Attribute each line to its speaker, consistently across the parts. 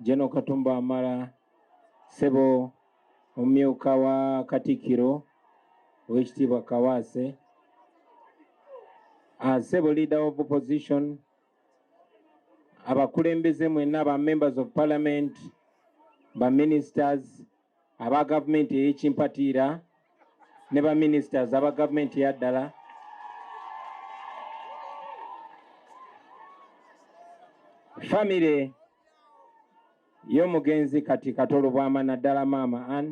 Speaker 1: Jeno Katumba Wamala sebo omumyuka wa Katikkiro ow'ekitiibwa Kawaase ah, sebo leader of opposition abakulembeze mwenna ba members of parliament ba ministers aba gavumenti ey'ekimpatiira ne ba ministers aba gavumenti yaddala famire y'omugenzi kati katolo bwama naddala maama an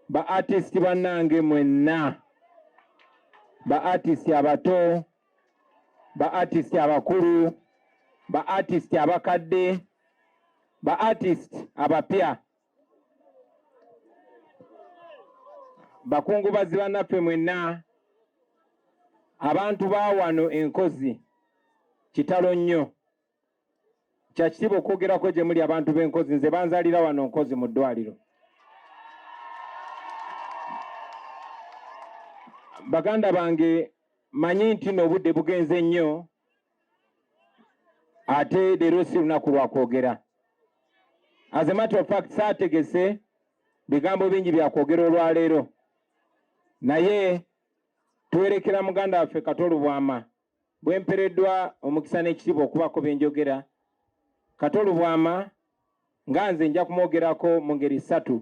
Speaker 1: ba artist bannange mwenna ba artist abato ba artist abakulu ba artist abakadde ba artist abapya bakungubazi bannaffe mwenna abantu ba wano enkozi kitalo nnyo kya kitiibwa okwogerako gye muli abantu b'enkozi nze banzalira wano nkozi mu ddwaliro baganda bange manyi nti n'obudde bugenze nnyo ate leero si lunaku lwa kwogera as a matter of fact saategese bigambo bingi bya kwogera olwaleero naye twerekera muganda waffe katolubwama Bwe mpereddwa omukisa n'ekitiibwa okubaako bye njogera, Kato Lubwama nga nze nja kumwogerako mu ngeri ssatu.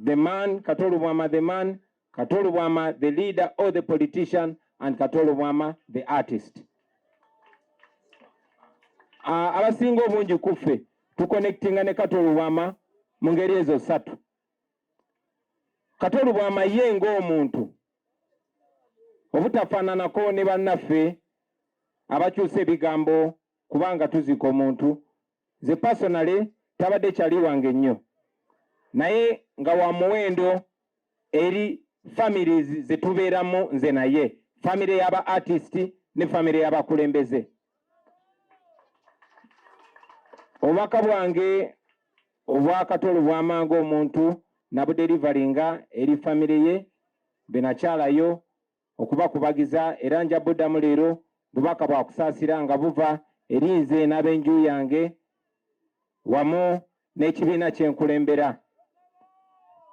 Speaker 1: The man Kato Lubwama the man, Kato Lubwama the leader or the politician and Kato Lubwama the artist. Uh, abasinga obungi ku ffe tukonectinga ne Kato Lubwama mu ngeri ezo ssatu. Kato Lubwama ye ng'omuntu obutafaananako ne bannaffe abakyusa ebigambo kubanga tuziika omuntu ze pasonale tabadde kyali wange nnyo naye nga wa muwendo eri families ze tubeeramu nze naye famire y'aba artist ne famire y'abakulembeze obubaka bwange Obwakatolo bwamanga omuntu nabudelivalinga eri family ye benakyalayo okubakubagiza era nja buddamu leero bubaka bwa kusaasira nga buva eri nze n'abenju yange wamu n'ekibiina kyenkulembera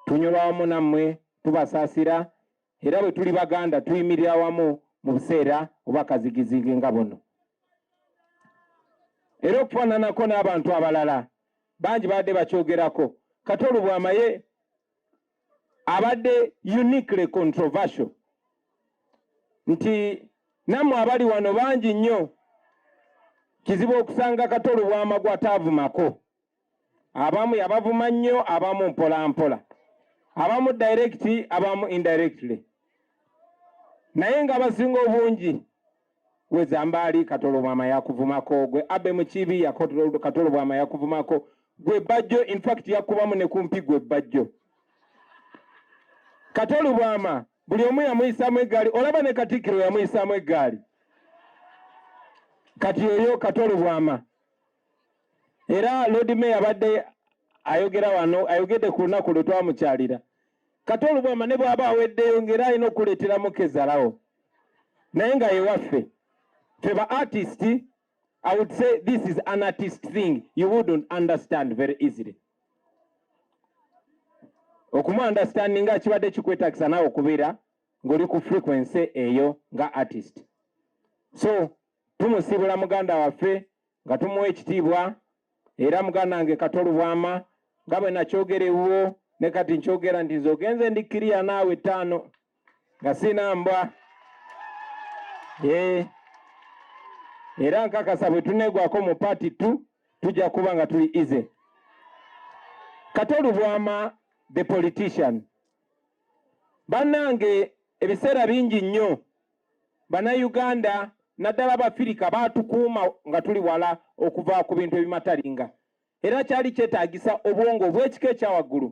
Speaker 1: tunyolwa wamu nammwe tubasaasira era bwe tuli Baganda tuyimirira wamu mu buseera oba kazigizigi nga buno. Era okufaananako n'abantu abalala bangi baadde bakyogerako, Kato Lubwama ye abadde uniquely controversial nti nammwe abali wano bangi nnyo kizibu okusanga Kato Lubwama gw'ataavumako abamu yabavuma nnyo abamu mpolampola abamu direct abamu indirectly naye nga abasinga obungi wezambaali katolobwama yakuvumako gwe abe mukibi katolobwama yakuvumako gwe bajjo infact yakubamu ne kumpi gwe bajjo katolobwama buli omu yamuyisamu eggaali olaba ne katikkiro yamuyisamu eggaali kati oyo katolobwama era Lord Mayor abadde ayogera wano ayogedde ku lunaku lwe twamukyalira kati olubwama ne bw'aba aweddeyo ng'era alina okuleeteramu kezalawo naye nga yewaffe ffe ba artist I would say this is an artist thing you wouldn't understand very easily okumu understanding nga kibadde kikwetagisa naawe okubeera ng'oli ku frequency eyo nga artist so tumusiibula muganda waffe nga tumuwa ekitiibwa era muganda wange kato lubwama nga bwe nakyogera ewuwo ne kati nkyogera nti nze ogenze ndi kiriya naawe ttaano nga sina mbwa eh. era nkakasa bwe tuneegwako mu paati tu tujja kuba nga tuli ize kato lubwama the politician bannange ebiseera bingi nnyo Bannayuganda naddala Abafirika baatukuuma nga tuli wala okuva ku bintu ebimatalinga era kyali kyetaagisa obwongo obw'ekika ekya waggulu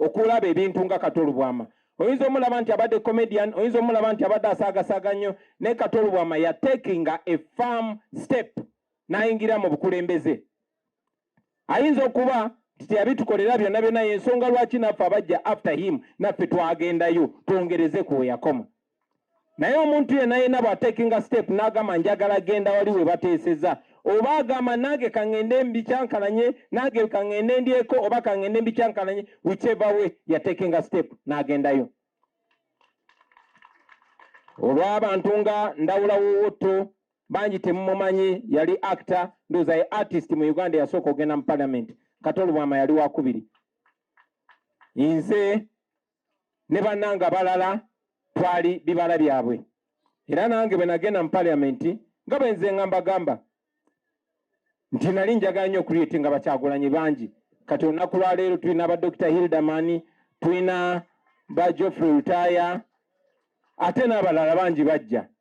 Speaker 1: okulaba ebintu nga Kato Lubwama. Oyinza omulaba nti abadde comedian, oyinza omulaba nti abadde asaagasaaga nnyo, naye Kato Lubwama yateekinga a firm step n'ayingira mu bukulembeze. ayinza okuba nti teyabitukolera byonna byonna yensonga lwaki naffe abajja after him naffe twagendayo twongereze ku weyakoma naye omuntu yena yena bwatakinga step nagamba njagala genda wali webateeseza oba agamba nange kaŋŋende mbikyankalanye nange kaŋŋende ndyeko oba kaŋŋende mbikyankalanye whichever way yatekinga step n'agendayo olw'abantu nga ndawula wowotto bangi temumumanyi yali actor ndoza ye artist mu uganda yasooka ogenda mu parliament kati olubwama yali wakubiri nze ne banange abalala twali bibala byabwe era nange bwe nagenda mu parliament nga bwenze nga mbagamba nti nali njagala nnyo okuliyeti nga bakyagulanyi bangi kati olunaku lwaleero tulina ba dr hilderman tulina ba joffrey lutaya ate n'abalala bangi bajja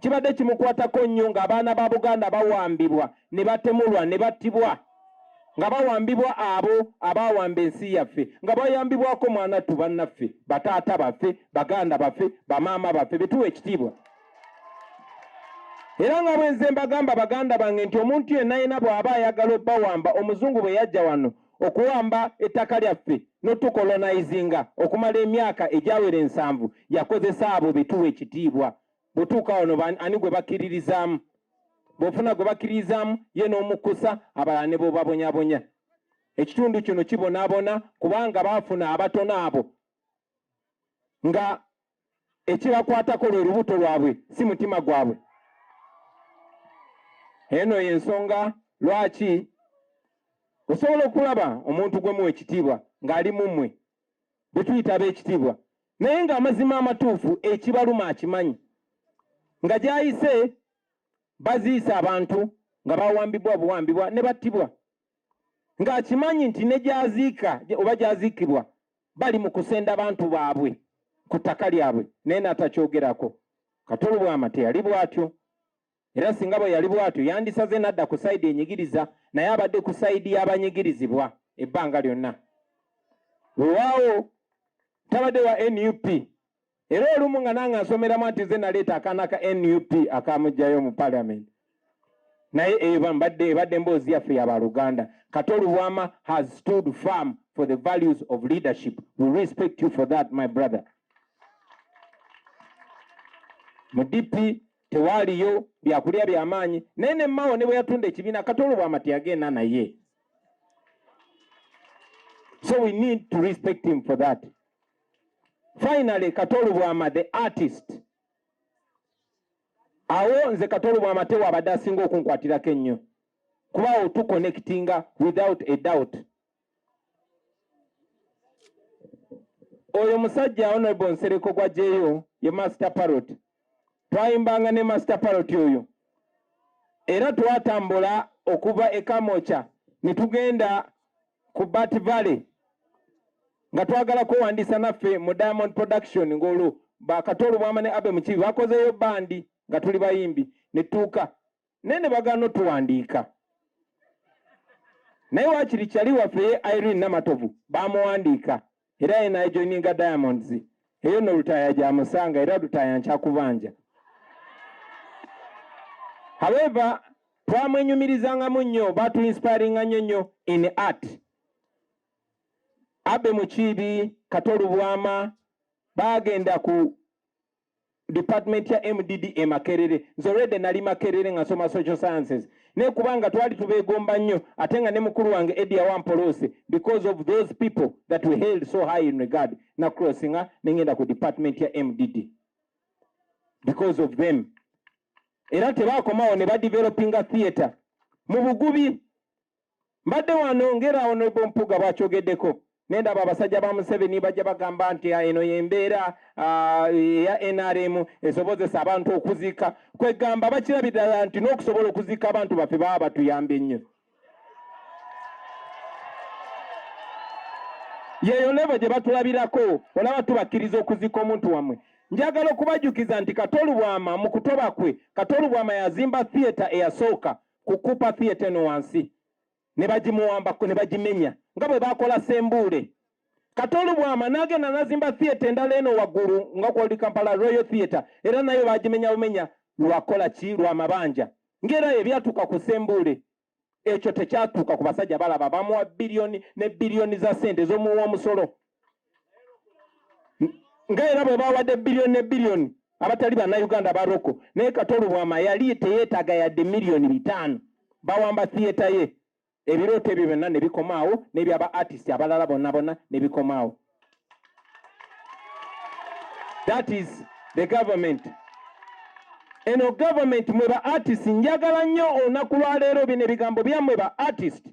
Speaker 1: kibadde kimukwatako nnyo ng'abaana ba Buganda bawambibwa ne batemulwa ne battibwa nga bawambibwa abo abawamba ensi yaffe nga bayambibwako mwanattu bannaffe bataata baffe baganda baffe bamaama baffe betuwa ekitiibwa era nga bwenze mbagamba baganda bange nti omuntu yenna yena bw'aba ayagala obbawamba omuzungu bwe yajja wano okuwamba ettaka lyaffe n'otukolonaizinga okumala emyaka egyawera ensanvu yakozesa abo betuwa ekitiibwa bwetuuka wano ani gwe bakkiririzaamu bwofuna gwe bakkiririzaamu ye n'omukkusa abalala ne bobabonyabonya ekitundu kino kibonaabona kubanga baafuna abatono abo nga ekibakwatako lwe lubuto lwabwe si mutima gwabwe eno yensonga lwaki osobola okulaba omuntu gwemu ekitiibwa ng'ali mumwe bwetuyita ab'ekitiibwa naye ng'amazima amatuufu ekibaluma akimanyi nga gyayise baziisa abantu nga bawambibwa buwambibwa ne battibwa ng'akimanyi nti ne gyaziika oba gyaziikibwa bali mu kusenda bantu baabwe ku ttaka lyabwe naye n'atakyogerako kati olubwama teyali bw'atyo era singa bwe yali bw'atyo yandisaze n'adda ku sayidi enyigiriza naye abadde ku sayidi y'abanyigirizibwa ebbanga lyonna wewaawo tabadde wa nup era olumu nga nange nsomeramu nti ze naleeta akaana ka nup akamugjayo mu parliament naye eba mbadde ebadde emboozi yaffe yabaluganda kato lubwama has stood firm for the values of leadership we respect you for that my brother mu dp tewaaliyo byakulya byamaanyi naye ne mao ne bwe yatunda ekibiina kato lubwama teyagenda naye so we need to respect him for that Finally, Katolu Bwama the artist. Awo nze Katolu Bwama tewa abadde asinga okunkwatirako ennyo kuba awo tu connectinga without a doubt. Oyo musajja Honorable Nsereko gwa jeyo ye master parrot. Twayimbanga ne master parrot oyo era twatambula okuva e Kamocha ne tugenda ku Bat Valley nga twagala kwewandiisa naffe mu Diamond Production ng'olwo bakato olubwama ne Abe Mukiibi bakozeeyo bandi nga tuli bayimbi ne tuuka naye ne bagaana otuwandiika naye wakiri kyali waffe ye Irene Namatovu bamuwandiika era ye najoininga diamonds eyo no lutaaya gyamusanga era lutaaya nkyakubanja however twamwenyumirizangamu nnyo batu inspiringa nnyo nnyo in art abe mukiibi kato lubwama bagenda ku department ya mdd e makerere nze rede nali makerere nga soma social sciences naye kubanga twali tubegomba nnyo ate nga ne mukulu wange edia wampolose because of those people that we held so high in regard na crossinga nengenda ku department ya mdd because of them era tebakomawo ne badevelopinga theatre mu bugubi mbadde wano ngera honorable mpuga bwakyogeddeko nendaba abasajja ba museveni bajja bagamba nti ah, eno yembeera ah, eya nrm esobozesa abantu okuzika kwegamba bakirabidala nti nokusobola okuzika abantu baffe baba batuyambye nnyo yeyo levo gye batulabirako olaba tubakkiriza okuzika omuntu wamwe njagala okubajukiza nti katolubwama mu kutoba kwe katolubwama yazimba theatre eyasooka ku Cooper Theatre eno wansi ne bagimuwambako ne bagimenya nga bwe baakola Sembuule. Katoolu bwama n'agenda n'azimba theatre endala eno waggulu nga kwali Kampala Royal Theatre era nayo baagimenya bumenya lwakola ki lwa mabanja ng'era ebyatuuka ku Sembuule ekyo tekyatuuka ku basajja balaba bamuwa biliyoni ne biliyoni za ssente z'omuwa omusolo nga era bwe bawadde biliyoni ne biliyoni abatali bannayuganda ba roko naye katolo bwama yali teyeetaaga yadde miliyoni bitaano bawamba thiyeta ye ebirooto ebyo byonna ne bikomaawo n'ebyaba artist abalala bonna bonna ne bikomaawo that is the government eno government mwe ba artist njagala nnyo olunaku lwaleero bino ebigambo byammwe ba artist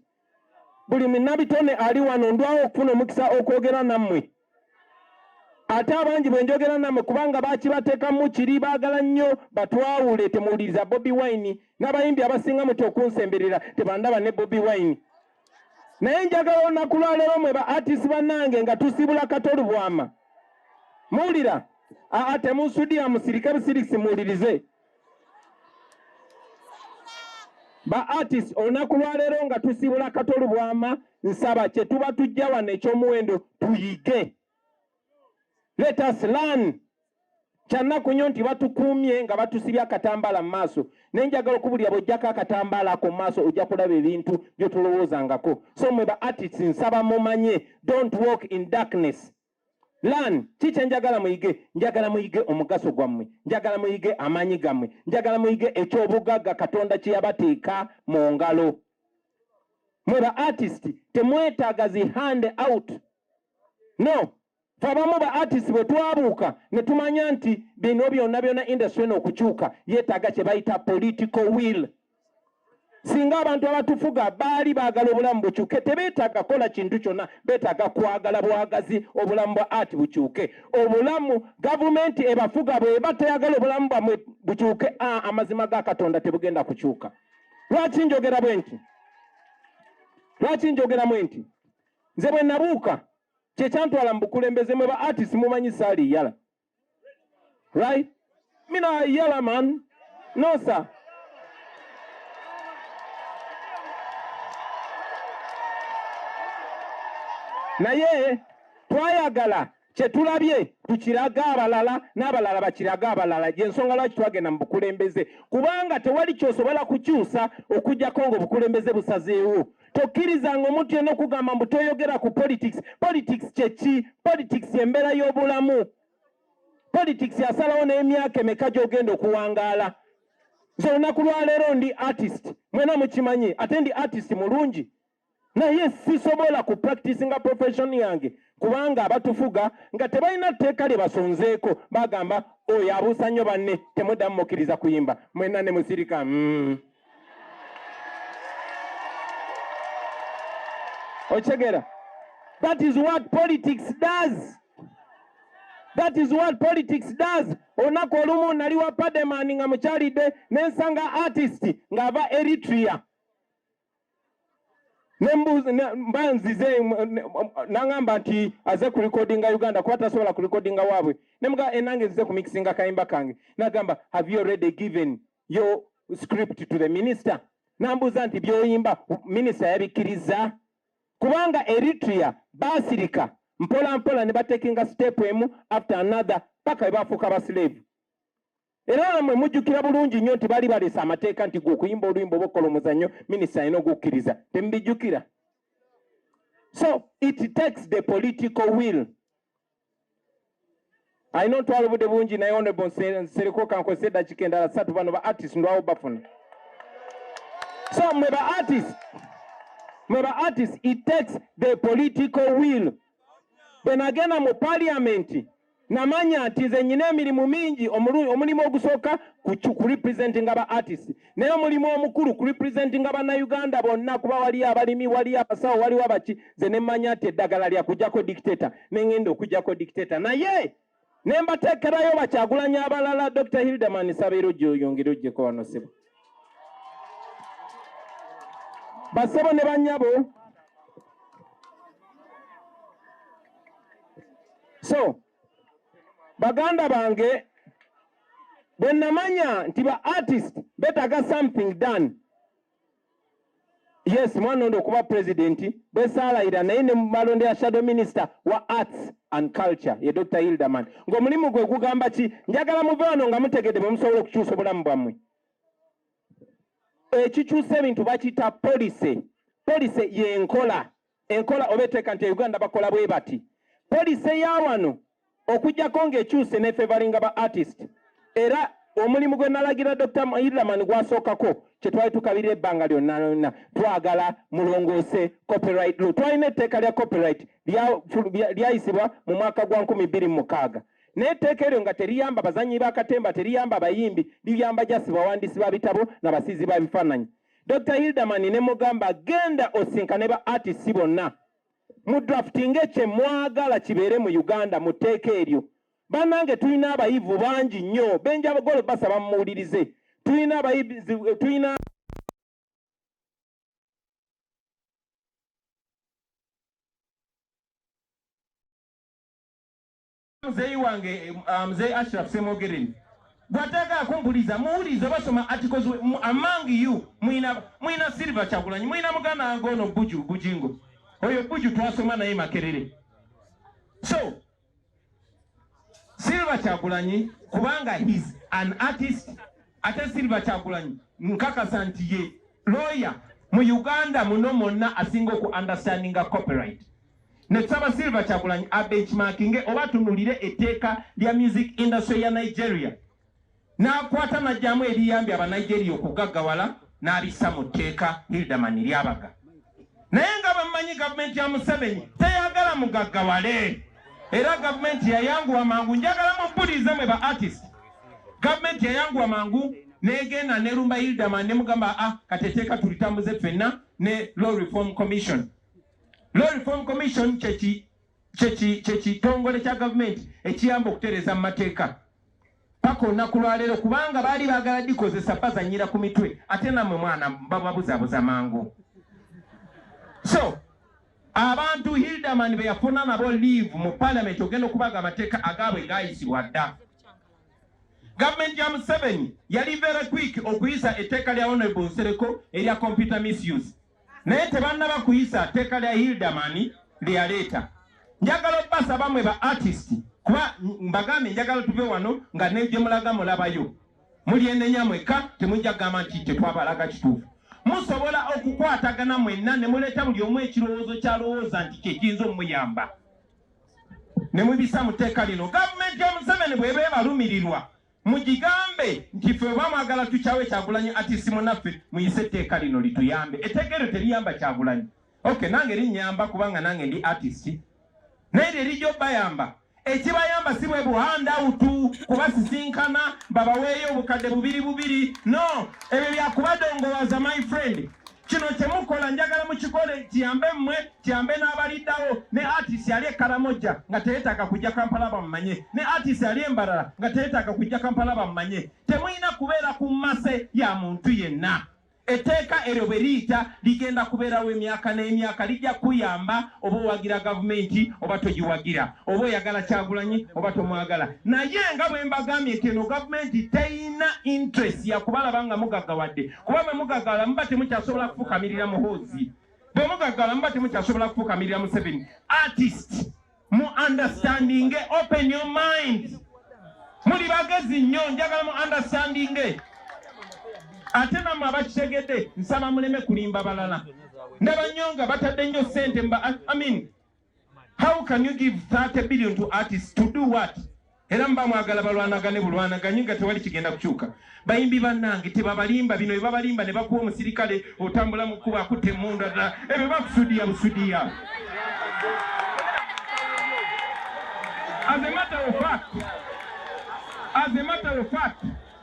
Speaker 1: buli minabitone ali wano ndwawo okufuna omukisa okwogera nammwe ate abangi bwe njogera nammwe kubanga bakibatekamu kiri baagala nnyo batwawule temuwuliriza bobi wine n'abayimbi abasinga muti okunsemberera tebandaba ne bobi wine naye njagala olunaku lwaleero mwe ba artis bannange nga tusibula katolu bwama muwulira aa temunsudiya musirike busirisi muwulirize ba artist olunaku lwaleero nga tusibula kato lubwama nsaba kyetuba tujja wano ekyomuwendo tuyige let us learn kyannaku nnyo nti batukuumye nga batusibye akatambaala mu maaso naye njagala okubulira bwojjako akatambaala ako mu maaso ojja kulaba ebintu byotolowoozangako so mwe ba artists nsaba mumanye don't walk in darkness Learn, teacher njagala muyige, njagala muyige omugaso gwammwe, njagala muyige amaanyi gammwe, njagala muyige eky'obugagga Katonda kye yabateeka mu ngalo. Mwe ba artist temwetaaga zi hand out. No, fe abamu ba artist bwe twabuuka ne tumanya nti bino byonna byonna industry eno okukyuka yeetaaga kye bayita political will. singa abantu abatufuga baali baagala obulamu bukyuke tebeetaaga kola kintu kyonna beetaaga kwagala bwagazi obulamu bwa art bukyuke obulamu gavumenti ebafuga bweba teyagala obulamu bwamwe bukyuke a amazima ga katonda tebugenda kukyuka lwaki njogera bwe nti lwaki njogera mwe nti nze bwe nabuuka kyekyantwala mu bukulembeze mwe ba artist mumanyi saali yala Right? Me not a yellow man. No, sir. naye twayagala kyetulabye tukirage abalala n'abalala bakirage abalala gyensonga lwaki twagenda mu bukulembeze kubanga tewali kyosobola kukyusa okujjako nga obukulembeze busazeewo tokkirizanga omuntu yena okugamba mbu toyogera ku politics politics kyeki politics embeera y'obulamu politics yasalawo n'emyaka emeka gyogenda okuwangaala nze olunaku lwaleero ndi artist mwena mukimanyi ate ndi artist mulungi naye sisobola ku practice nga profession yange kubanga abatufuga nga tebalina tteeka lye basonzeeko bagamba oyo abuusa nnyo banne temudamu mukkiriza kuyimba mwena ne musirika mm. Ochegera. That is what politics does. That is what politics does. Onako olumu nali wa Pademan nga mukyalidde nensanga artist nga ava Eritrea mba nzize nangamba nti aze ku recordinga Uganda kuba tasobola ku recordinga waabwe nemuga enange eh, nzize ku mixinga kayimba kange nagamba have you already given your script to the minister nambuuza nti byoyimba minisita yabikkirizza kubanga eritrea baasirika mpola mpola ne batekinga sitepu emu after another paka bwe bafuuka abasileevu era namwe mujjukira bulungi nnyo nti baali baleese amateeka nti gwe okuyimba oluyimba oba okukola omuzannyo minisita alina okukkiriza temubijjukira so it takes the political will alina ontwala obudde bungi naye onebo nsereko kankozesa eddakiika endala satu bano ba artist ndwawo bafuna so mwe ba artist mwe ba artist it takes the political will bwe nagenda mu paliamenti namanya nti nze nyina emirimu mingi omulimu ogusooka ku representing aba artist naye omulimu omukulu ku representinga bannayuganda bonna kuba waliyo abalimi waliyo abasawo waliwo abaki ze ne mmanya nti eddagala lya kujjako dictator ne ngenda okujjako dictator naye ne mbateekerayo bakyagulanya abalala dr hildeman sabeera ojja oyongere ojjeko wano sebo basebo ne banyabo so baganda bange bwe namanya nti ba artist betaga something done yes mwana ondo okuba president bwesaalayira naye ne mumalonde ya shadow minister wa arts and culture ye dr hilderman ngaomulimu gwe gugamba ki njagala muve wano nga mutegedde bwe musobola okukyusa obulamu bwammwe ekikyusa ebintu bakiyita policy policy yenkola enkola oba eteeka nti Uganda bakola bwe bati poliisi eya wano okujjako ng'ekyuse nefevalinga ba artist era omulimu gwe nalagira Dr. Iraman gwasookako kye twali tukabirira ebbanga lyonna lyonna twagala mulongoose copyright law twalina etteeka lya copyright lyayisibwa mu mwaka gwa nkumi bbiri mu mukaaga naye etteeka eryo nga teriyamba bazannyi ba katemba teriyamba bayimbi liyamba jasi bawandiisi ba bitabo na basiizi ba bifaananyi Dr. Hilderman ne mugamba genda osinkane ba artists bonna mu drafting ekye mwagala kibeere mu Uganda mu tteeka eryo. Banange tulina abayivu bangi nnyo benja golo basaba mumuwulirize tulina abayivu tulina Muzeeyi wange uh, Muzeeyi Ashraf Ssemogereni bw'atayagala kumpuliza muwulize basoma articles among you muyina muyina Silver Kyagulanyi muyina muganda wange ono Buju Bujingo oyo Buju twasoma naye Makerere so Silver Kyagulanyi kubanga he's an artist ate Silver Kyagulanyi nkakasa nti ye lawyer mu Uganda muno mwonna asinga oku understandinga copyright ne tusaba Silver Kyagulanyi abenchmarkinge oba atunulire etteeka lya music industry ya Nigeria n'akwata n'aggyamu ebiyambye Abanigeria okugaggawala n'abissa mu tteeka Hilderman Lyabaga. Naye nga bammanyi gavumenti ya Museveni teyagala mugaggawale era gavumenti yayanguwa mangu njagala mubuliize mwe ba artist gavumenti yayanguwa mangu negenda nerumba Hilderman nemugamba ah kati etteeka tulitambuze ffenna ne Law Reform Commission Law Reform Commission kyekitongole kya gavumenti ekiyamba okutereeza mu mateeka paka olunaku lwaleero kubanga baali baagala dikozesa bazanyira ku mitwe ate namwe mwana bababuzabuza mangu so abantu hildaman beyafuna nabo leave mu palamenti ogenda okubaga amateeka agaabwe gayisibwa dda gavumenti ya museveni yali very quick okuyisa etteeka lya honorable nsereko erya computer misuse naye tebannaba kuyisa tteeka lya Hilderman lye yaleeta. Njagala obbasaba mwe ba artist kuba mbagambye njagala tuve wano nga ne gye mulaga mulabayo. Mulyenenya mwekka temujja kugamba nti tetwabalaga kituufu. Musobola okukwatagana mwenna ne muleeta buli omu ekirowoozo ky'alowooza nti kye kiyinza omuyamba ne mubisa mu tteeka lino. Gavumenti ya Museveni bw'eba ebalumirirwa Mugigambe nti ffe oba mwagala tukyawe kyagulanyi atisi munaffe muyise etteeka lino lituyambe. Etteeka eryo teriyamba kyagulanyi. Okay nange linyamba kubanga nange ndi artist. Naye lye lijja obayamba. Ekibayamba si bwe buhanda utu kubasisinkana babaweeyo obukadde bubiri bubiri. No, ebyo byakubadongowaza my friend. Kino kye mukola njagala mukikole kiyambe mmwe kiyambe n'abaliddawo ne artist ali e Karamoja nga teyeetaaga kujja Kampala bamumanye ne artist ali e Mbarara nga teyeetaaga kujja Kampala bamumanye. Temulina kubeera ku mmase ya muntu yenna. Etteeka eryo bwe liyita ligenda kubeerawo emyaka n'emyaka, lijja kuyamba oba owagira gavumenti oba togiwagira, oba oyagala Kyagulanyi oba tomwagala. Naye nga bwe mbagambye nti eno gavumenti terina interest ya kubalaba nga mugaggawadde. kuba bwe mugagala muba temukyasobola kufukamirira muhoozi bwe mugagala muba temukyasobola kufukamirira museveni artist mu understanding open your mind muli bagezi nnyo njagala mu understanding ate namwe abakitegedde nsaba muleme kulimba balala ndaba nnyo nga batadde nnyo sente mba amin how can you give 30 billion to artists to do what era mba mwagala balwanagane bulwanaganye nga tewali kigenda kukyuka bayimbi bannange tebabalimba bino bebabalimba ne bakuwa omusirikale otambula mu kkuba akutte emundu adala ebyo bakusudiya busudiya azemataofat azemataofat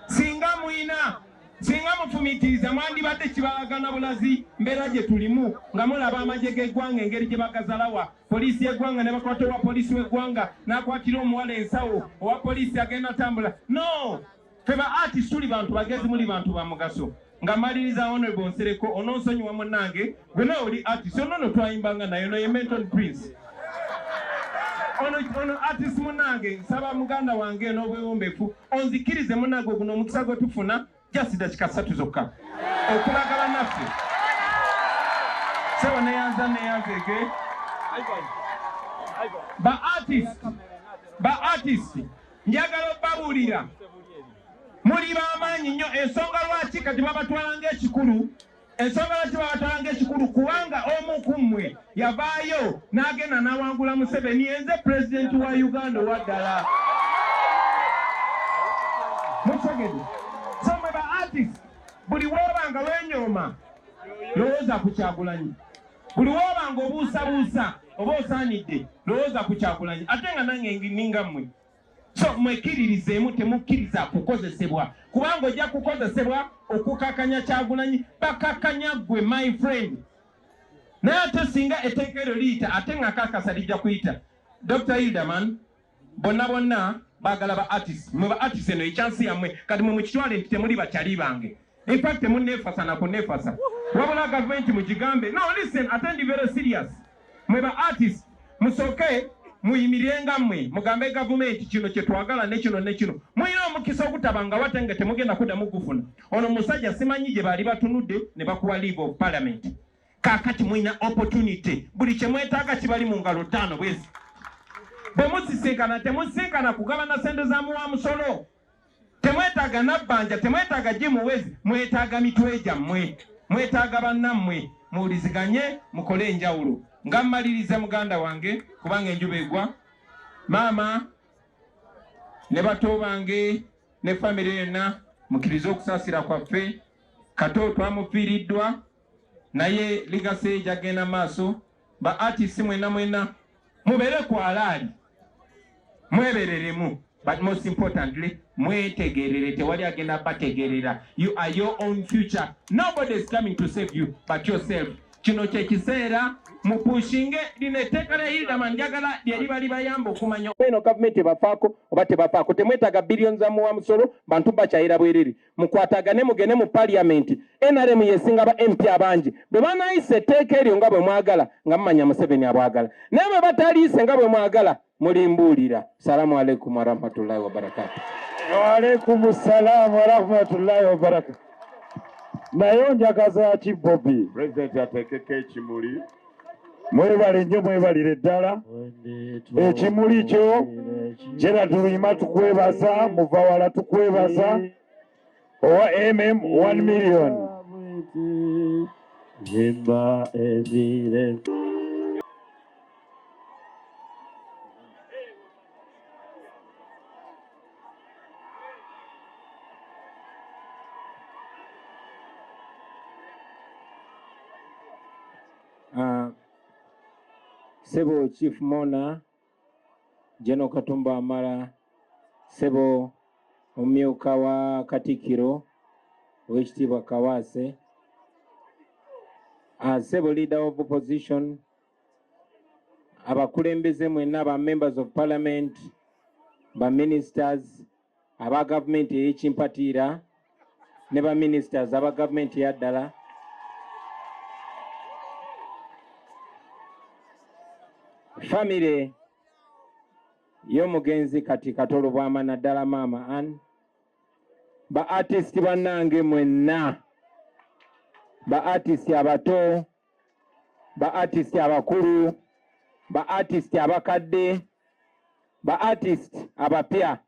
Speaker 1: singa mwina Singa mufumiitiriza mwandibadde kibalaga na bulazi mbeera gye tulimu nga mulaba amagye g'eggwanga engeri gye bagazalawa poliisi y'eggwanga ne bakwata owa poliisi w'eggwanga n'akwatira omuwala ensawo owa poliisi agenda atambula no fe ba artist tuli bantu bagezi muli bantu ba mugaso nga maliriza honorable nsereko ononsonyiwa munnange Gwe nawe oli artist ono no twayimbanga naye no ye Menton Prince. Ono ono artist munange nsaba muganda wange n'obwewombefu onzikirize munange guno omukisa gwe tufuna just dakika ssatu zokka okulagala naffe sebo neyanza neyanzege ba artist ba artist njagala obabuulira muli bamaanyi nnyo ensonga lwaki kati babatwala ngaekikulu Ensonga lwaki babatanga ekikulu kubanga omu ku mmwe yavaayo n'agenda n'awangula Museveni enze pulezidenti wa Uganda owa ddala. Mutegede so mwe ba artist buli wooba nga wenyooma lowooza ku Kyagulanyi, buli wooba nga obuusabuusa oba osaanidde lowooza ku Kyagulanyi ate nga nange ninga mmwe. so mwekiririzeemu temukkiriza kukozesebwa kubanga ojja kukozesebwa okukakanya kyagulanyi bakakanya gwe my friend naye ate singa etteeka eryo liyita ate nga kakasa lijja kuyita dr hilderman bonna bonna bagala ba artist mwe ba artist eno ekyansi yammwe kati mwe mukitwale nti temuli bakyali bange In fact, temunneefasa na kunneefasa. Wabula gavumenti mugigambe. No, listen, ate ndi very serious. Mwe ba artist, musooke muyimirenga mmwe mugambe gavumenti kino kye twagala ne kino ne kino. Mulina omukisa ogutaba nga wate nga temugenda kuddamu kugufuna. Ono musajja simanyi gye baali batunudde ne bakuwa leave of parliament. Kaakati mulina opportunity. Buli kye mwetaaga kibali mu ngalo ttaano bwezi. Bwe musisinkana temusisinkana kugabana ssente za muwa musolo. Temwetaaga nabbanja, temwetaaga gye muwezi, mwetaaga mitwe gyammwe, mwetaaga bannammwe muwuliziganye mukole enjawulo. Nga mmaliriza muganda wange kubanga enjuba egwa, maama ne bato bange ne famire yonna mukirize okusaasira kwaffe. Kato twamufiiriddwa naye ligase gyagenda maaso ba artists mwena mwena mubere ku alaali mwebereremu but most importantly mwetegerere tewali agenda bategerera you are your own future nobody is coming to save you but yourself kino kyekiseera mupushinge lino etteeka lya hildaman njagala lyeriba libayamba okumanya eno gavumenti ebafaako oba tebafaako temwetaaga billion za muwa musolo bantu bakyayira bwerere mukwatagane mugende mu parliament nrm yesinga ba mp abangi bwe banayisa etteeka eryo nga bwe mwagala nga mumanya museveni abwagala naye bwe bataliise nga bwe mwagala mulimbuulira salamu aleikum warahmatullahi wabarakatu waalaikum
Speaker 2: salaamu warahmatullahi wabarakatu naye onjagaza ki bobi pulezidenti ateekeko
Speaker 3: ekimuli mwebale
Speaker 2: nnyo mwebalire ddala ekimuli kyo gerald luyima tukwebaza muvawala tukwebaza owa mm 1 million Himba
Speaker 4: Evire.
Speaker 1: Uh, Sebo Chief Mona General Katumba Wamala Sebo omumyuka wa Katikkiro ow'ekitiibwa Kawaase uh, Sebo Leader of Opposition abakulembeze mwenna ba members of parliament ba ministers aba gavumenti ey'ekimpatiira ne ba ministers aba gavumenti eya ddala famire y'omugenzi kati katolo bwama naddala maama an ba artist bannange mwenna ba artist abato ba artist abakulu ba artist abakadde ba artist abapya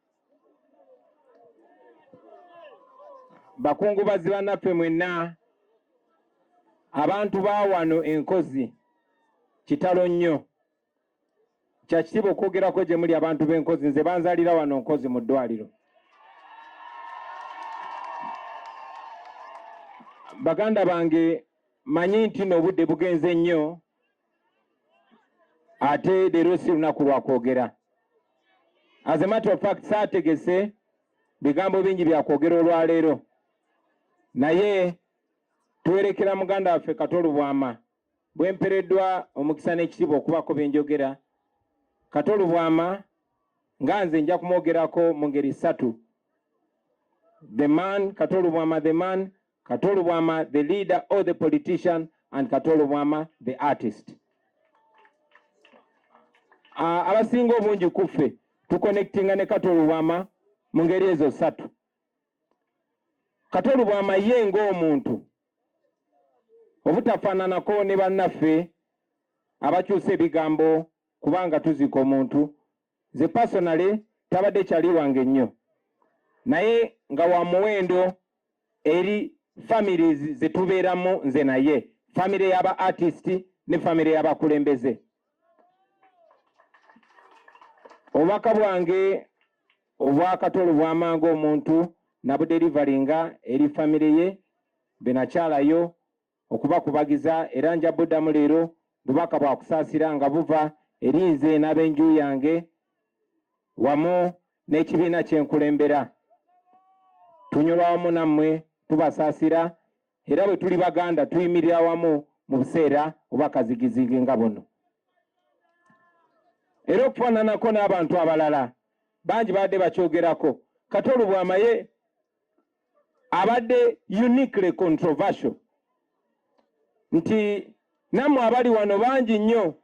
Speaker 1: bakungubazi bannaffe mwenna abantu ba wano enkozi kitalo nnyo kya kitiibwa okwogerako gye muli abantu b'enkozi nze banzalira wano nkozi mu ddwaliro baganda bange manyi nti n'obudde bugenze nnyo ate leero si lunaku lwa kwogera as a matter of fact saategese bigambo bingi bya kwogera olwaleero naye tuwerekera muganda waffe katolubwama Bwe mpereddwa omukisa n'ekitiibwa okubaako bye njogera, Kato Lubwama nga nze nja kumwogerako mu ngeri ssatu. The man Kato Lubwama the man, Kato Lubwama the leader or the politician and Kato Lubwama the artist. Uh, abasinga obungi ku ffe tukonectinga ne Kato Lubwama mu ngeri ezo ssatu. Kato Lubwama ye ng'omuntu obutafaananako ne bannaffe abakyusa ebigambo kubanga tuziika omuntu ze pasonale tabadde kyali wange nnyo naye nga wa muwendo eri families ze tubeeramu nze naye famire y'aba artist ne famire y'abakulembeze obubaka bwange Obwakatolo bwamanga omuntu nabudelivalinga eri family ye benakyalayo okubakubagiza era nja buddamu leero bubaka bwa kusaasira nga buva eri nze n'abenju yange wamu n'ekibiina kyenkulembera tunyolwa wamu nammwe tubasaasira era bwe tuli Baganda tuyimirira wamu mu buseera oba kazigizigi nga buno. Era okufaananako n'abantu abalala bangi baadde bakyogerako, Kato Lubwama ye abadde uniquely controversial nti nammwe abali wano bangi nnyo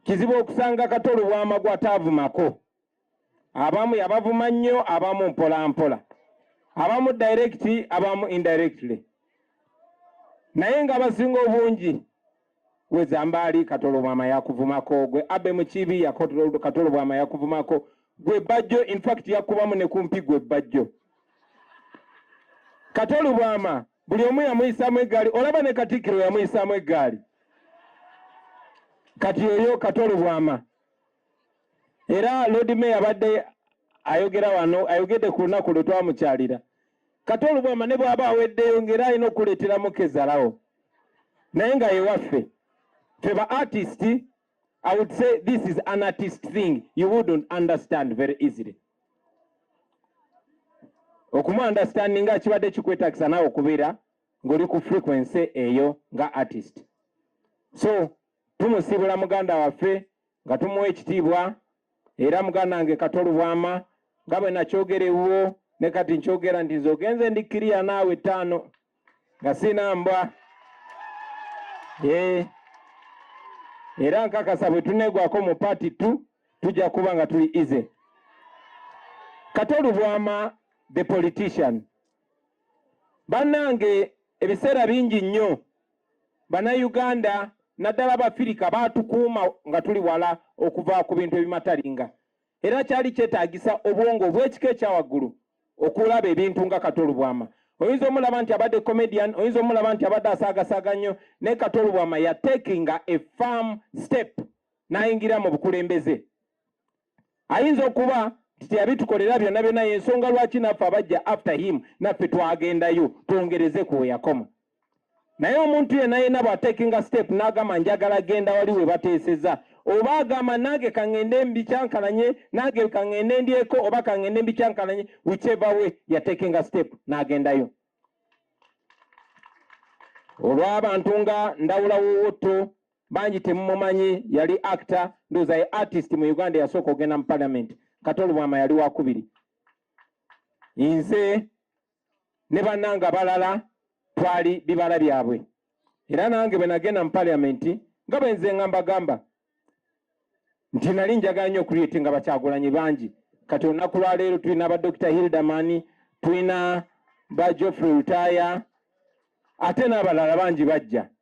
Speaker 1: kizibu okusanga Kato Lubwama gw'ataavumako abamu yabavuma nnyo abamu mpolampola abamu direct abamu indirectly naye nga abasinga obungi wezambaali katolobwama yakuvumako gwe abe mukibi katolobwama yakuvumako gwe bajjo infact yakubamu ne kumpi gwe bajjo katolobwama buli omu yamuyisamu eggaali olaba ne katikkiro yamuyisamu eggaali kati oyo katolobwama era Lord Mayor abadde ayogera wano ayogedde ku lunaku lwe twamukyalira kati olubwama ne bw'aba aweddeyo ng'era alina okuleeteramu kezalawo naye nga yewaffe ffe ba artist i would say this is an artist thing you wouldn't understand very easily okumu understanding nga kibadde kikwetagisa naawe okubeera ng'oli ku frequency eyo nga artist so tumusiibula muganda waffe nga tumuwa ekitiibwa era muganda wange kato lubwama nga bwe nakyogera ewuwo ne kati nkyogera nti nze ogenze ndi kiriya naawe ttaano nga sina mbwa eh. era nkakasa bwe tuneegwako mu paati tu tujja kuba nga tuli ize kato lubwama the politician bannange ebiseera bingi nnyo Bannayuganda naddala Abafirika baatukuuma nga tuli wala okuva ku bintu ebimatalinga era kyali kyetaagisa obwongo obw'ekika ekya waggulu okulaba ebintu nga Kato Lubwama. Oyinza omulaba nti abadde comedian, oyinza omulaba nti abadde asaagasaaga nnyo, naye Kato Lubwama yateekinga a firm step n'ayingira mu bukulembeze. ayinza okuba nti teyabitukolera byonna byonna yensonga lwaki naffe abajja after him naffe twagendayo twongereze ku weyakoma naye omuntu yena yena bwatakinga step nagamba njagala genda wali webateeseza oba agamba nange kangende mbikyankalanye nange kangende ndyeko oba kangende mbikyankalanye whichever way yatekinga step nagendayo olw'abantu nga ndawula wowotto bangi temumumanyi yali actor ndoza ye artist mu uganda yasooka ogenda mu parliament kati olubwama yali wakubiri nze ne banange abalala twali bibala byabwe era nange bwe nagenda mu parliament nga bwenze nga mbagamba nti nali njagala nnyo okuliyeti nga bakyagulanyi bangi kati olunaku lwaleero tulina ba dr hilderman tulina ba joffrey lutaya ate n'abalala bangi bajja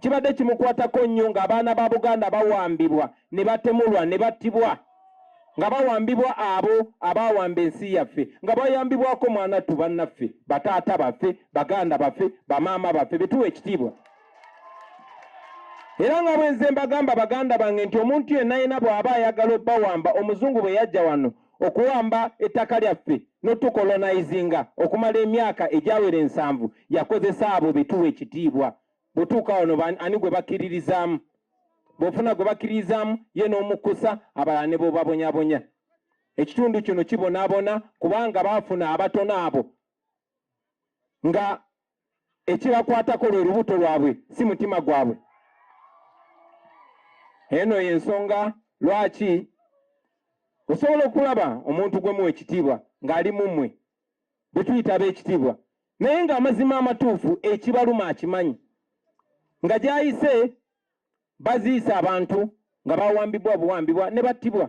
Speaker 1: kibadde kimukwatako nnyo ng'abaana ba Buganda bawambibwa ne batemulwa ne battibwa nga bawambibwa abo abawamba ensi yaffe nga bayambibwako mwanattu bannaffe bataata baffe baganda baffe bamaama baffe betuwa ekitiibwa era nga bwenze mbagamba baganda bange nti omuntu yenna yenna bw'aba ayagala obbawamba omuzungu bwe yajja wano okuwamba ettaka lyaffe notukolonizinga okumala emyaka egyawera ensanvu yakozesa abo betuwa ekitiibwa bwetuuka wano ani gwe bakkiririzaamu bwofuna gwe bakkiririzaamu ye n'omukkusa abalala ne bobabonyabonya ekitundu kino kibonabona kubanga baafuna abatono abo nga ekibakwatako lwe lubuto lwabwe si mutima gwabwe eno yensonga lwaki osobola okulaba omuntu gwe muwa ekitiibwa ng'ali mu mmwe bwe tuyita ab'ekitiibwa naye ng'amazima amatuufu ekibaluma akimanyi nga gy'ayise baziisa abantu nga bawambibwa buwambibwa ne battibwa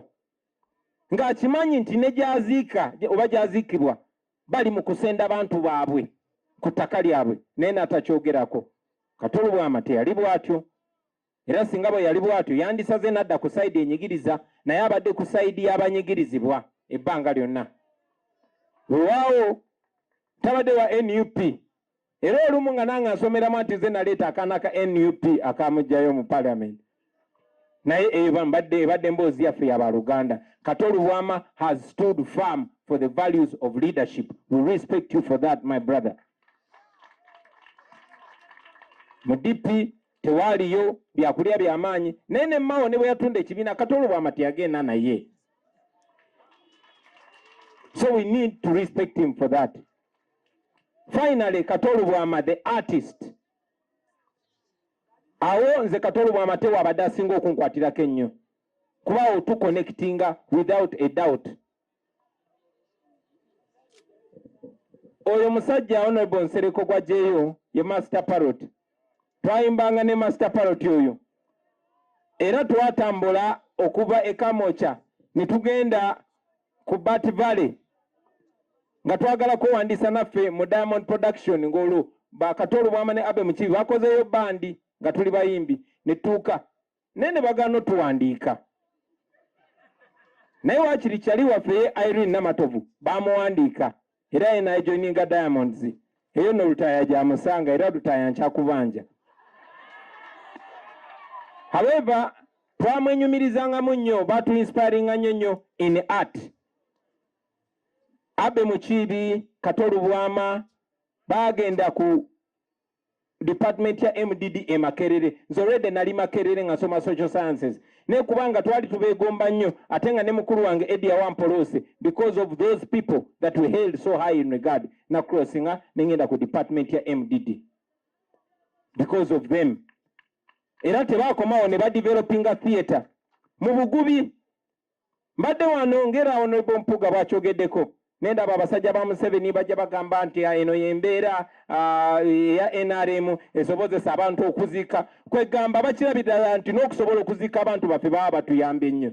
Speaker 1: ng'akimanyi nti ne gyaziika oba gyaziikibwa bali mu kusenda bantu baabwe ku ttaka lyabwe naye n'atakyogerako kati olubwama teyali bw'atyo era singa bwe yali bw'atyo yandisaze n'adda ku sayidi enyigiriza naye abadde ku sayidi y'abanyigirizibwa ebbanga lyonna wewaawo tabadde wa nup era olumu nga nange nsomeramu nti ze naleeta akaana ka nup akamugjayo mu parliament naye eba mbadde ebadde emboozi yaffe yabaluganda kato lubwama has stood firm for the values of leadership we respect you for that my brother mu dp tewaaliyo byakulya byamaanyi naye nemawo ne bwe yatunda ekibiina kato lubwama teyagenda naye so we need to respect him for that Finally, Katolu Bwama the artist. Awo nze Katolu Bwama tewa abadde asinga okunkwatirako ennyo kuba awo tu connectinga without a doubt. Oyo musajja Honorable Nsereko gwa jeyo ye master parrot. twayimbanga ne master parot oyo era twatambula okuva e kamoca ne tugenda ku bat valley nga twagala kwewandiisa naffe mu diamond production ng'olwo bakatolu bwama ne abe mukibi bakozeyo bandi nga tuli bayimbi ne tutuuka naye ne bagaana otuwandiika naye wakiri kyali waffe ye Irene Namatovu bamuwandiika era ye naye joininga Diamonds eyo no lutaaya gyamusanga era lutaaya nkyakubanja however twamwenyumirizangamu nnyo batu inspiringa nnyo nnyo in art abe mukiibi katolubwama bagenda ku department ya MDD e Makerere nze already nali Makerere nga soma social sciences ne kubanga twali tubegomba nnyo ate nga ne mukulu wange Eddie Awampolose because of those people that we held so high in regard na crossing ah, ne ngenda ku department ya MDD because of them era tebakomawo ne badevelopinga theatre mu bugubi mbadde wano ngera honorable mpuga bwakyogeddeko nendaba abasajja ba museveni bajja bagamba nti ah, eno yembeera ah, eya nrm esobozesa abantu okuzika kwegamba bakirabidala nti nokusobola okuzika abantu baffe baba batuyambye nnyo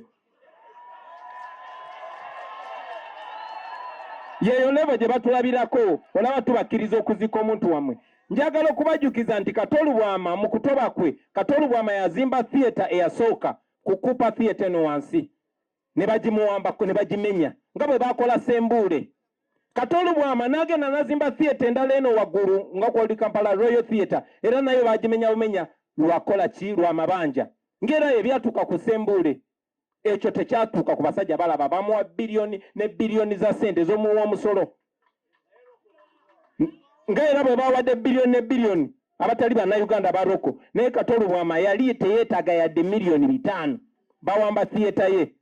Speaker 1: yeyo levo gye batulabirako olaba tubakkiriza okuzika omuntu wamwe njagala okubajukiza nti katolubwama mu kutoba kwe katolubwama yazimba theatre eyasooka ku Cooper Theatre eno wansi ne bagimuwambako ne bagimenya nga bwe baakola Sembuule. Kati Olubwama n'agenda n'azimba theatre endala eno waggulu nga kwali Kampala Royal Theatre era nayo baagimenya bumenya lwakola ki lwa mabanja ng'era ebyatuuka ku Sembuule ekyo tekyatuuka ku basajja balaba bamuwa biliyoni ne biliyoni za ssente z'omuwa omusolo nga era bwe bawadde biliyoni ne biliyoni abatali bannayuganda ba roko naye katolo bwama yali teyeetaaga yadde miliyoni bitaano bawamba thiyeta ye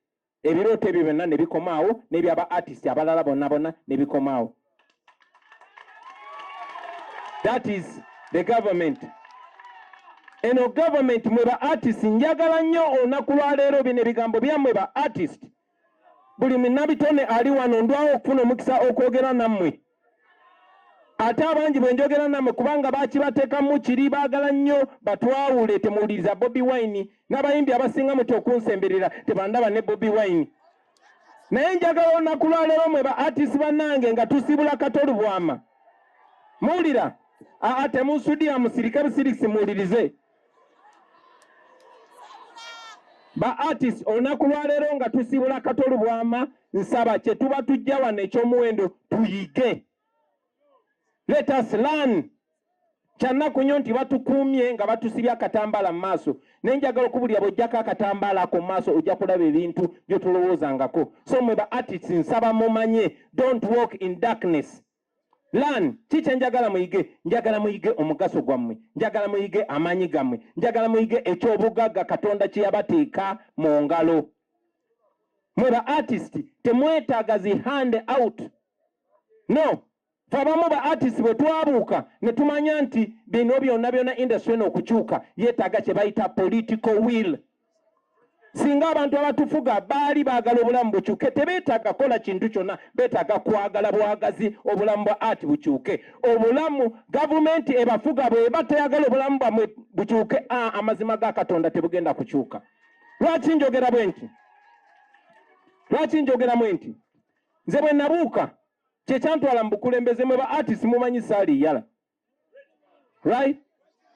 Speaker 1: ebirooto ebyo byonna ne bikomaawo n'ebyaba artist abalala bonna bonna ne bikomaawo that is the government eno government mwe ba artist njagala nnyo olunaku lwaleero bino ebigambo byammwe ba artist buli minnabitone ali wano ndwawo okufuna omukisa okwogera nammwe ate abangi bwe njogera nammwe kubanga bakibateekamu kiri baagala nnyo batwawule temuwuliriza bobi wine n'abayimbi abasinga muti okunsemberera tebandaba ne bobi wine naye njagala olunaku lwaleero mwe ba atisi bannange nga tusiibula kato lubwama muwulira aa temusudiya musirike busirisi muwulirize ba artist olunaku lwaleero nga tusibula kato lubwama nsaba kyetuba tujja wano ekyomuwendo tuyige let us learn kyannaku nnyo nti batukuumye nga batusibye akatambaala mu maaso naye njagala okubulira bwojjako akatambaala ako mu maaso ojja kulaba ebintu byotolowoozangako so mwe ba artist nsaba mumanye don't walk in darkness Learn, teacher njagala muyige, njagala muyige omugaso gwammwe, njagala muyige amaanyi gammwe, njagala muyige eky'obugagga Katonda kye yabateeka mu ngalo. Mwe ba artist temwetaaga zi hand out. No, fe abamu ba artist bwe twabuuka ne tumanya nti bino byonna byonna industry eno okukyuka yeetaaga kye bayita political will. singa abantu abatufuga baali baagala obulamu bukyuke tebeetaaga kola kintu kyonna beetaaga kwagala bwagazi obulamu bwa ati bukyuke obulamu gavumenti ebafuga bweba teyagala obulamu bwamwe bukyuke amazima ga katonda tebugenda kukyuka lwaki njogera bwe nti lwaki njogeramu nti nze bwe nabuuka kyekyantwala mu bukulembeze mwe ba artist mumanyi saali yala Right?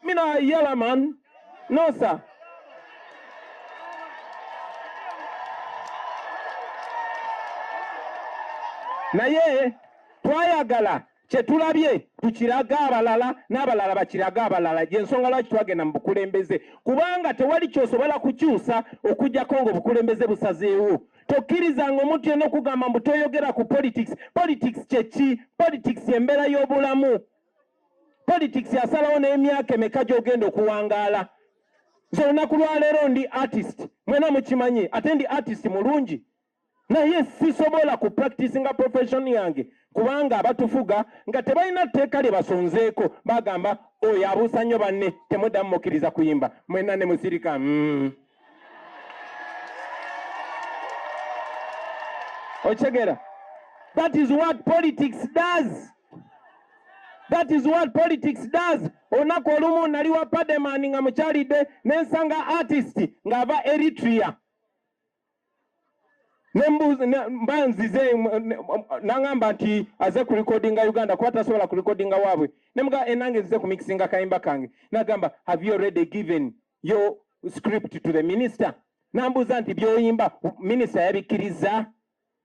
Speaker 1: Me not a yellow man. No, sir. naye twayagala kyetulabye tukirage abalala n'abalala bakirage abalala gyensonga lwaki twagenda mu bukulembeze kubanga tewali kyosobola kukyusa okujjako nga obukulembeze busazeewo tokkirizanga omuntu yena okugamba mbu toyogera ku politics politics kyeki politics embeera y'obulamu politics asalawo n'emyaka emeka gy'ogenda okuwangaala nze olunaku lwaleero ndi artist mwena mukimanyi ate ndi artist mulungi naye sisobola ku practice nga profession yange kubanga abatufuga nga tebalina tteeka lye basonzeeko bagamba oyo abuusa nnyo banne temuddamu mukkiriza kuyimba mwena ne musirika mm. Ochegera. That is what politics does. That is what politics does. Olunaku olumu nali wa Pademan nga mukyalidde ne nsanga artist ng'ava Eritrea mba nzize nangamba nti aze ku recordinga Uganda kuba tasobola ku recordinga waabwe ne mga enange eh, nzize ku mixinga kayimba kange nagamba have you already given your script to the minister nambuuza nti byoyimba minisita yabikkirizza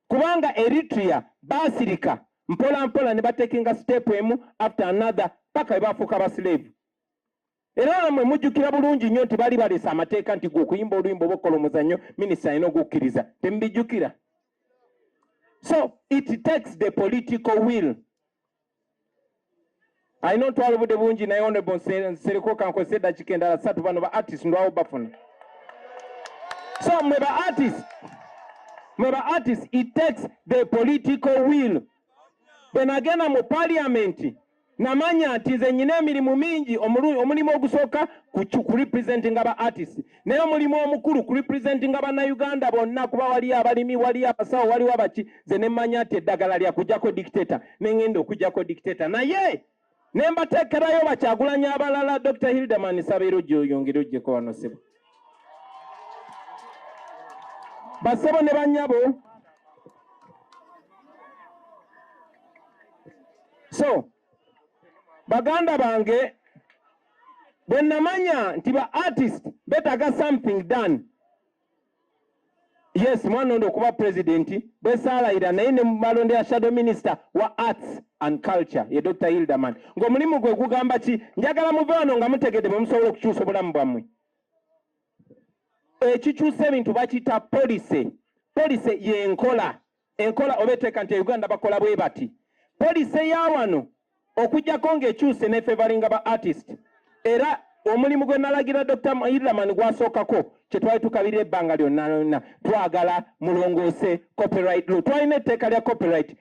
Speaker 1: kubanga eritrea baasirika mpola mpola ne batekinga sitepu emu after another paka bwe bafuuka abasileevu era namwe mujjukira bulungi nnyo nti bali baleese amateeka nti gwe okuyimba oluyimba oba okukola omuzannyo minisita alina okukkiriza temubijjukira so it takes the political will alina otwala obudde bungi naye onebo nsereko kankozesa eddakiika endala satu bano ba artist ndwawo bafuna so mwe ba artist mwe ba artist it takes the political will bwe nagenda mu paliamenti namanya nti nze nyina emirimu mingi omulimu ogusooka ku representinga ba artist naye omulimu omukulu ku representinga bannayuganda bonna kuba waliyo abalimi waliyo abasawo waliwo abaki ze ne mmanya nti eddagala lya kujjako dictator ne ngenda okujjako dictator naye ne mbateekerayo bakyagulanya abalala dr hildeman sabeera ojja oyongere ojjeko wano sebo basebo ne banyabo so baganda bange bwe namanya nti ba artist betaga something done yes mwana ondo okuba president bwesaalayira naye ne mumalonde ya shadow minister wa arts and culture ye dr hilderman ngaomulimu gwe gugamba ki njagala muve wano nga mutegedde bwe musobola okukyusa obulamu bwammwe ekikyusa ebintu bakiyita policy policy yenkola enkola oba eteeka nti Uganda bakola bwe bati poliisi eya wano okujjako ng'ekyuse nefevalinga ba artist era omulimu gwe nalagira Dr. Iraman gwasookako kye twali tukabirira ebbanga lyonna lyonna twagala mulongoose copyright law twalina etteeka lya copyright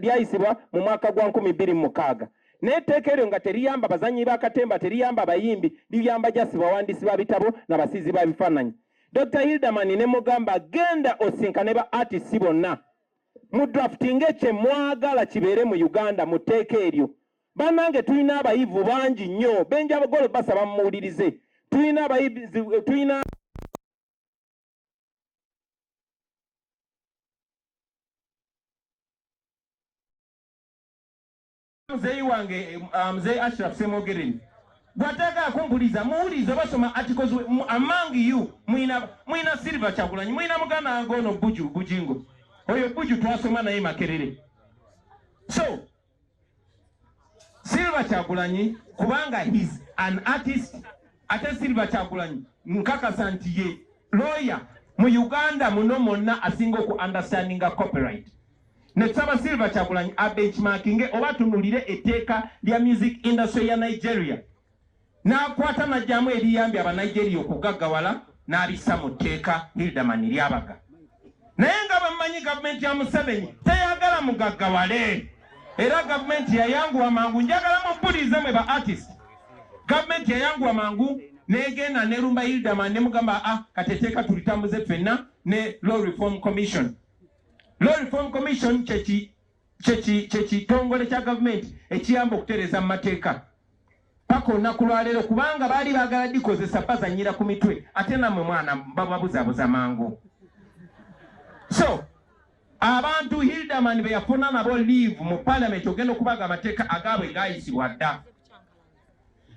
Speaker 1: lyayisibwa mu mwaka gwa nkumi bbiri mu mukaaga naye etteeka eryo nga teriyamba bazannyi ba katemba teriyamba bayimbi liyamba jasi bawandiisi ba bitabo na basiizi ba bifaananyi Dr. Hilderman ne mugamba genda osinkane ba artists bonna mu drafting ekye mwagala kibeere mu Uganda mu tteeka eryo. Banange tulina abayivu bangi nnyo benja bagolo basaba mumuwulirize tulina abayivu tulina Muzeeyi wange uh, Mzee Ashraf Semogereni bwatayagala kumpuliza muwulize basoma articles among you mwina mwina silver kyagulanyi mwina muganda wange ono buju bujingo oyo buju twasoma naye makerere so silver kyagulanyi kubanga his an artist ate silver kyagulanyi nkakasa nti ye lawyer mu uganda muno mwonna asinga oku understandinga copyright ne saba Silver Kyagulanyi abenchmarkinge oba atunulire etteeka lya music industry ya Nigeria n'akwata najjamu ebiyambye aba Nigeria okugaggawala n'abissa mu tteeka Hilderman Lyabaga naye nga bammanyi gavumenti ya Museveni teyagala mugaggawale era gavumenti yayanguwa mangu njagala mubbulize mwe ba artist gavumenti yayanguwa mangu negenda nelumba Hilderman nemugamba ah kateteeka tulitambuze ffenna ne law reform commission Law Reform Commission kyekitongole kya gavumenti ekiyamba okutereeza mu mateeka paka olunaku lwaleero kubanga baali bagala dikozesa bazanyira ku mitwe ate namwe mwana bababuzabuza mangu so abantu hildaman beyafuna nabo leave mu palamenti ogenda okubaga amateeka agaabwe gayisibwa dda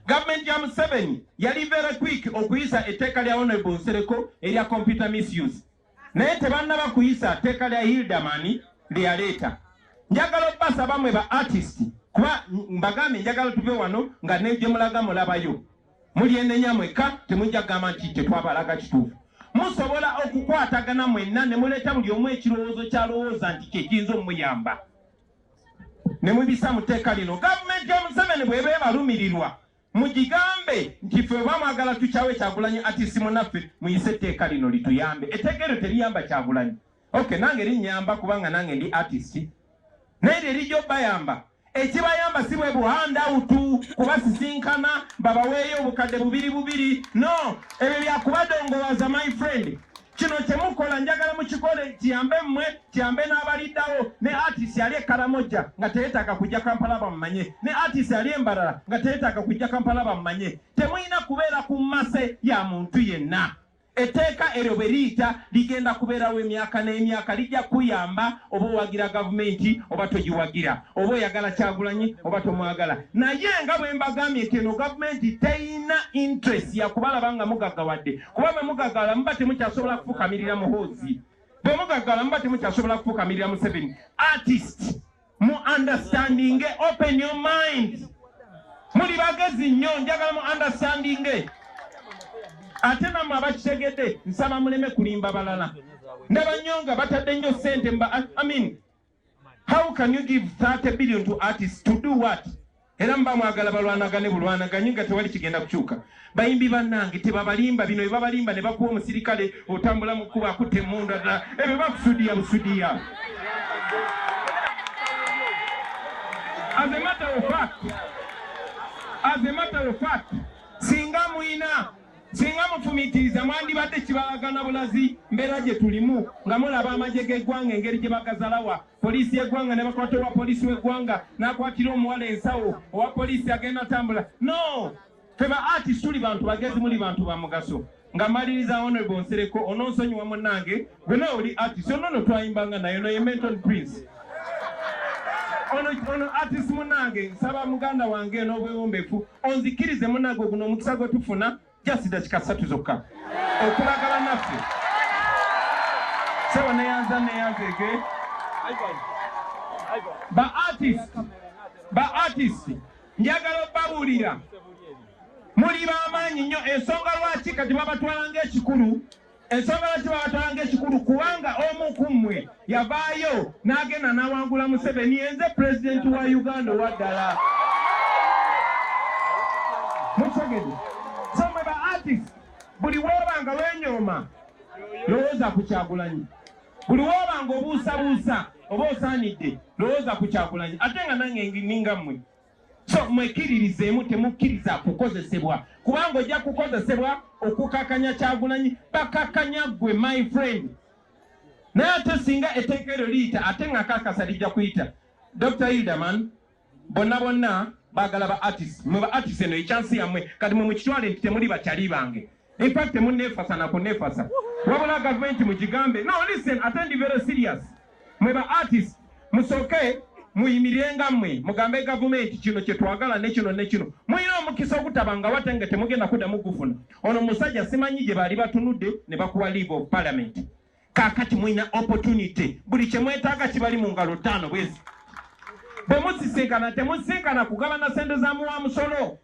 Speaker 1: gavumenti ya museveni yali very quick okuyisa etteeka lya honorable nsereko erya computer misuse naye tebannaba kuyisa tteeka lya Hilderman lye yaleeta. Njagala okubasaba mwe ba artist kuba mbagambye njagala tuve wano nga ne gye mulaga mulabayo. Mulyenenya mwekka temujja kugamba nti tetwabalaga kituufu. Musobola okukwatagana mwenna ne muleeta buli omu ekirowoozo ky'alowooza nti kye kiyinza omuyamba ne mubisa mu tteeka lino. Gavumenti ya Museveni bw'eba ebalumirirwa Mugigambe nti ffe oba mwagala tukyawe kyagulanyi ati simunaffe muyise etteeka lino lituyambe etteeka eryo teriyamba kyagulanyi ok nange linyamba kubanga nange ndi artist naye lyerija obayamba ekibayamba si bwe buhandawutu kubasisinkana babaweeyo obukadde bubiri bubiri no ebyo byakubadongowaza my friend Kino kye mukola njagala mukikole kiyambe mmwe kiyambe n'abaliddawo ne artist ali e Karamoja nga teyeetaaga kujja Kampala bamumanye ne artist ali e Mbarara nga teyeetaaga kujja Kampala bamumanye. Temulina kubeera ku mmase ya muntu yenna. Etteeka eryo bwe liyita ligenda kubeerawo emyaka n'emyaka, lijja kuyamba oba owagira gavumenti oba togiwagira, oba oyagala Kyagulanyi oba tomwagala. Naye nga bwe mbagambye nti eno gavumenti terina interest ya kubalaba nga mugaggawadde. kuba bwe mugagala muba temukyasobola kufukamirira muhoozi bwe mugagala muba temukyasobola kufukamirira museveni artist mu understanding open your mind muli bagezi nnyo njagala mu understanding ate namwe abakitegedde nsaba muleme kulimba balala ndaba nnyo nga batadde nnyo sente mba amin how can you give 30 billion to artists to do what era mba mwagala balwanagane bulwanaganye nga tewali kigenda kukyuka bayimbi bannange tebabalimba bino bebabalimba ne bakuwa omusirikale otambula mu kkuba akutte emundu addala ebyo bakusudiya busudiya azematawofat azematawofat singa mwina Singa mufumiitiriza mwandibadde kibalaga na bulazi mbeera gye tulimu nga mulaba amagye g'eggwanga engeri gye bagazalawa poliisi y'eggwanga ne bakwata owa poliisi w'eggwanga n'akwatira omuwala ensawo owa poliisi agenda atambula no fe ba artist tuli bantu bagezi muli bantu ba mugaso nga maliriza honorable nsereko ononsonyiwa munnange Gwe nawe oli artist ono no twayimbanga naye no ye Menton Prince. Ono ono artist munange nsaba muganda wange n'obwewombefu onzikirize munange oguno omukisa gwe tufuna just dakika ssatu zokka okulagala naffe sebo neyanza neyanzege ba artist ba artist njagala obabuulira muli bamaanyi nnyo ensonga lwaki kati babatwala ngaekikulu Ensonga lwaki babatwalanga ekikulu kubanga omu ku mmwe yavaayo n'agenda n'awangula Museveni yenze pulezidenti wa Uganda owa ddala. Mukitegede so mwe ba artist buli wooba nga wenyooma lowooza ku Kyagulanyi, buli wooba nga obuusabuusa oba osaanidde lowooza ku Kyagulanyi ate nga nange ninga mmwe. So mwekiririzeemu temukkiriza kukozesebwa kubanga ojja kukozesebwa okukakanya kyagulanyi bakakanya gwe my friend naye ate singa etteeka eryo liyita ate nga kakasa lijja kuyita dr hilderman bonna bonna bagala ba artist mwe ba artist eno ekyansi yammwe kati mwe mukitwale nti temuli bakyali bange In fact temunefasa na kunefasa. Wabula government mujigambe. No listen, attend very serious. Mwe ba artist musoke muyimirenga mwe mugambe government kino kye twagala ne kino ne kino. Muyina omukisa okutabanga watenge temugenda kuda mugufuna. Ono musajja simanyi gye bali batunudde ne bakuwa leave of parliament. Kakati muyina opportunity. Buli kye mwetaaga kibali mu ngalo ttaano bwezi. Bwe musisinkana temusisinkana kugabana sente za muwa musolo.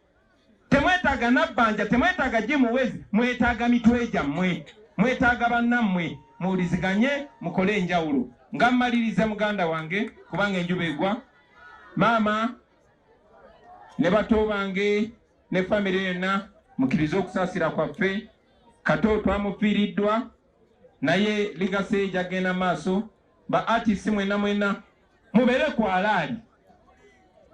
Speaker 1: Temwetaaga nabbanja, temwetaaga jimu wezi, mwetaaga mitwe gyammwe, mwetaaga bannammwe muwuliziganye mukole enjawulo. Nga mmaliriza muganda wange kubanga enjuba egwa, maama ne bato bange ne famire yonna mukkirize okusaasira kwaffe. Kato twamufiiriddwa naye ligase gyagenda maaso Ba artists mwena mwena mubere ku alaali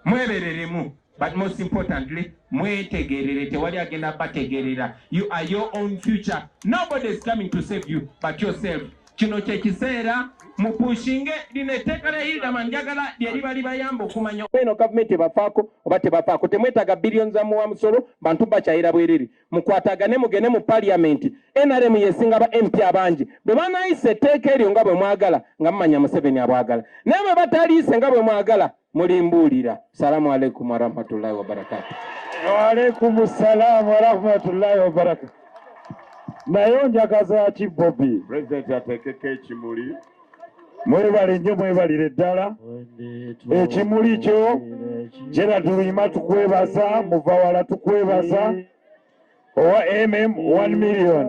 Speaker 1: mwebereremu but most importantly mwetegerere tewali agenda bategerera you are your own future nobody is coming to save you but yourself kino kyekiseera mupushinge lino etteeka lya hildaman njagala lyeriba libayamba okumanya eno gavumenti ebafaako oba tebafaako temwetaaga billion za muwa musolo bantu bakyayira bwerere mukwatagane mugende mu parliament nrm yesinga ba mp abangi bwe banayisa etteeka eryo nga bwe mwagala nga mumanya museveni abwagala naye bwe bataliise nga bwe mwagala mulimbuulira salamu aleikum warahmatullahi wabarakatu waalaikum
Speaker 2: salaamu warahmatullahi wabarakatu naye onjagaza ki bobi pulezidenti ateekeko
Speaker 3: ekimuli mwebale
Speaker 2: nnyo mwebalire ddala ekimuli kyo gerard luyima tukwebaza muvawala tukwebaza owa mm 1 million